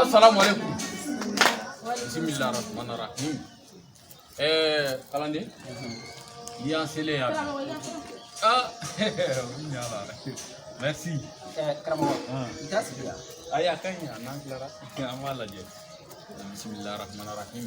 asalamu aleykum bisimila rahman rahim ɛɛ kalanden i y'an selen yan ah merci karamɔgɔ i t'a sigi yan ayi a ka ɲi a n'an tilara an b'a lajɛ bisimila rahman rahim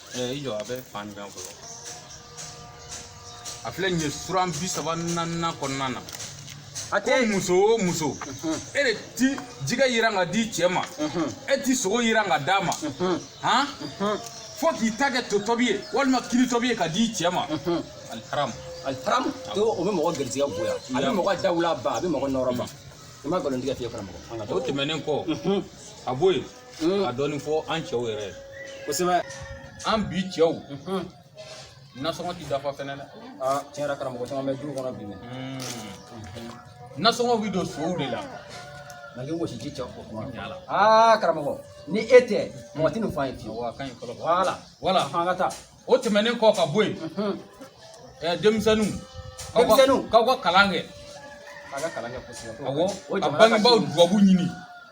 i jɔ a bɛ fan jumɛn fɔlɔ a filɛ nin ye suran bi saba naaninan kɔnɔna na a ko tɛ muso o muso e de ti jɛgɛ yiran ka di cɛ ma e ti sogo yiran ka d'a ma han fo k'i ta kɛ to tɔbi ye walima kini tɔbi ye ka di cɛ ma aliharamu aliharamu to o bɛ mɔgɔ garijɛgɛ bonya a bɛ mɔgɔ dawula ban a bɛ mɔgɔ nɔrɔ ban i ma nkalon tigɛ fiye karamɔgɔ an ka o tɛmɛnen kɔ ka bɔ yen a dɔɔnin fɔ an cɛw yɛrɛ ye kosɛbɛ an bi cɛw nasɔngɔ ti dafa fɛnɛ dɛ aa tiɲɛ yɛrɛ karamɔgɔ caman bɛ du kɔnɔ bi dɛ nasɔngɔ bi don sow de la nka k'i gosi ji cɛ o kuma Yala. aa karamɔgɔ ni e tɛ mɔgɔ tɛ nin fɔ an ye fiyewu wa kan in fɔlɔ voilà voilà an ka taa o tɛmɛnen kɔ ka bɔ yen ɛɛ denmisɛnninw k'aw ka kalan kɛ a ka kalan kɛ kosɛbɛ awɔ ka bangebaaw dubabu ɲini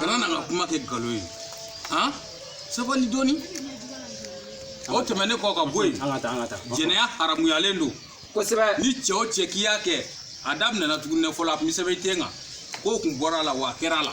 kana na ka kuma kɛ galo ye sabali dɔɔni o tɛmɛnen kɔ ka bɔ yen jɛnɛya haramuyalen don kosɛbɛ ni cɛ o cɛ k'i y'a kɛ a daminɛna tuguni fɔlɔ a bɛ sɛbɛn i ten kan k'o kun bɔra a la wa a kɛra a la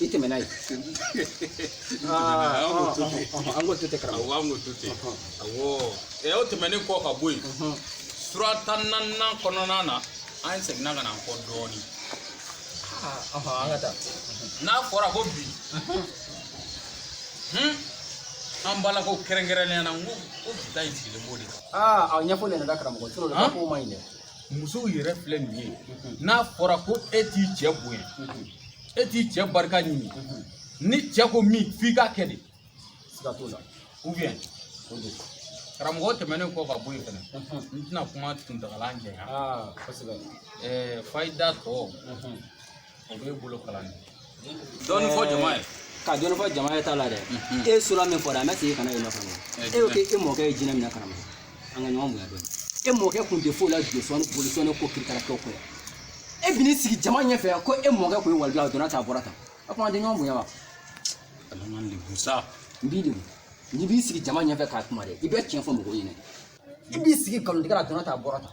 ite me nayi an ko tute karamɔgɔ awɔ an ko tute awɔ ɛ o tɛmɛnen kɔ ka bɔ yen sura tan naaninan kɔnɔna na an seginna ka na an kɔ dɔɔni an ka taa n'a fɔra ko bi an balakaw kɛrɛnkɛrɛnnenya na n ko ko bi ta in sigilen b'o de kan aa a ɲɛfɔlen yɛrɛ da karamɔgɔ toro la ko man ɲi dɛ musow yɛrɛ filɛ nin ye n'a fɔra ko e t'i cɛ bonya e t'i cɛ barika ɲini ni cɛ ko min f'i k'a kɛ de siga t'o la ou bien o don karamɔgɔ tɛmɛnen kɔ ka bɔ yen fɛnɛ n tɛna kuma kuntagala janya kosɛbɛ fayida tɔ o bɛ bolo kalan de dɔɔnin fɔ jama ye ka dɔɔnin fɔ jama ye t'a la dɛ e sura min fɔra a ma segin kana yɛlɛ kɔnɔ e ko k'e mɔkɛ ye jinɛ minɛ karamɔgɔ an ka ɲɔgɔn bonya dɔɔnin e mɔkɛ kun tɛ foyi la josɔn bolisɔn ko kirikara kɛw kɔ e bi n'i sigi jama ɲɛfɛ ko e mɔkɛ kun ye waliju ye a donna tan a bɔra tan a kuma an tɛ ɲɔgɔn bonya wa ala m'an lebu sa n b'i lebu n'i b'i sigi jama ɲɛfɛ ka kuma dɛ i bɛ tiɲɛ fɔ mɔgɔw ɲɛna i b'i sigi nkalontigɛ la donna tan a bɔra tan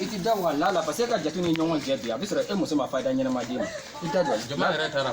I ti da Ala la parce que e ka jate ni ɲɔgɔn cɛ bi a bɛ sɔrɔ e muso ma fayida ɲɛnama d'i ma i da don jama yɛrɛ taara